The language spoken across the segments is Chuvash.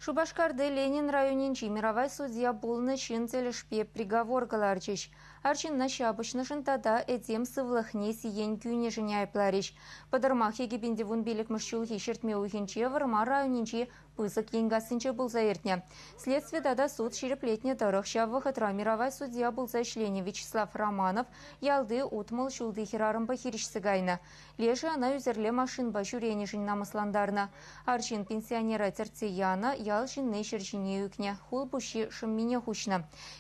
Шупашкарти Ленин районӗнчи миравай судья пулнӑ ҫын тӗлӗшпе приговор кӑларчӗҫ. Арҫынна ҫапӑҫнӑшӑн тата этем сывлӑхне сиен кӳнӗшӗн айӑпларӗҫ. Пӑтӑрмах Екипенти вун пиллӗкмӗш ҫулхи ҫӗртме уйӑхӗнче Вӑрмар районӗнчи Пысӑк Енкассинче пулса иртнӗ. Следстви тата суд ҫирӗплетнӗ тӑрӑх ҫав вӑхӑтра миравай судья пулса ӗҫленӗ Вячеслав Романов ялти утмӑл ҫулти хӗрарӑмпа хирӗҫсе кайнӑ. Лешӗ ӑна ӳсӗрле машинпа ҫӳренӗшӗн намӑслантарнӑ. Арҫын пенсионера тӗртсе янӑ, ял ҫынни ҫӗр ҫине ӳкнӗ, хул пуҫҫи шӑммине хуҫнӑ.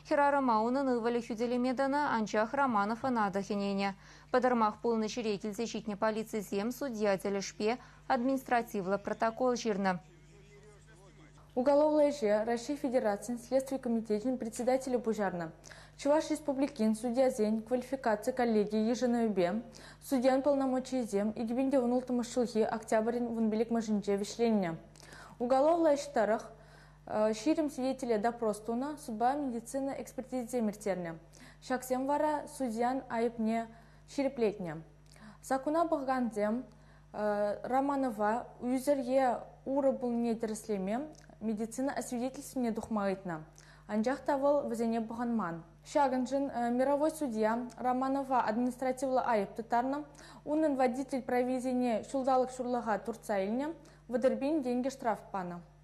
Хӗрарӑма унӑн ывӑлӗ хӳтӗлеме тӑнӑ, анчах Романов ӑна та хӗненӗ. Пӑтӑрмах пулнӑ ҫӗре килсе ҫитнӗ полицисем судья тӗлӗшпе административлӑ протокол ҫырнӑ. Уголовлӑ ӗҫе Раҫҫей Федерацийӗн Следстви комитечӗн председателӗ пуҫарнӑ. Чӑваш Республикин судьясен квалификаци коллеги йышӑнӑвӗпе судьян полномочийӗсем икӗпинте ун улттӑмӗш ҫулхи октябрӗн вун пилӗкмӗшӗнче вӗҫленнӗ. Уголовлӑ ӗҫ тӑрӑх ҫирӗм свидетеле допрос тунӑ, судпа медицина экспертизисем ирттернӗ. Ҫаксем вара судьян айӑпне ҫирӗплетнӗ. Саккуна пӑхакансем Романова ӳсӗр е урӑ пулнине тӗрӗслеме медицина освидетельствине тухма ыйтнӑ. Анчах та вӑл вӗсене пӑхӑнман. Ҫакӑншӑн мировой судья Романова административлӑ айӑп тыттарнӑ. Унӑн водитель провизине ҫулталӑк ҫурлӑха туртса илнӗ, вӑтӑр пин тенкӗ штраф панӑ.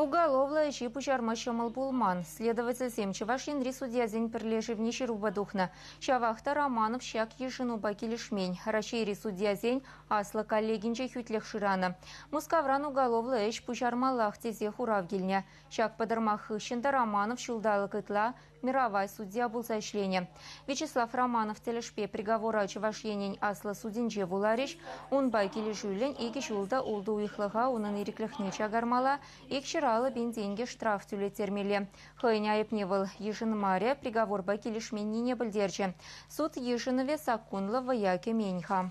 Уголовлӑ ӗҫе пуҫарма ҫӑмӑл пулман. Следовательсем Чӑваш Енри судьясен пӗрлешӗвне ҫырупа тухнӑ. Ҫавах та Романов ҫак йышӑнупа килӗшмен. Раҫҫейри судьясен аслӑ коллегинче хӳтлӗх шыранӑ. Мускавран уголовлӑ ӗҫ пуҫармаллах тесе хурав килнӗ. Ҫак пӑтӑрмах хыҫҫӑн та Романов ҫулталӑк ытла Миравай судья пулса ӗҫленӗ. Вячеслав Романов тӗлӗшпе приговора Чӑваш Енӗн аслӑ судӗнче вуларӗҫ. Унпа килӗшӳллӗн икӗ ҫул та ултӑ уйӑхлӑха унӑн ирӗклӗхне чакармалла, икҫӗр аллӑ пин тенкӗ штраф тӳлеттермелле. Хӑйӗн айӑпне вӑл йышӑнмарӗ, приговорпа килӗшменнине пӗлтерчӗ. Суд йышӑнӑвӗ саккунлӑ вӑя кӗмен-ха.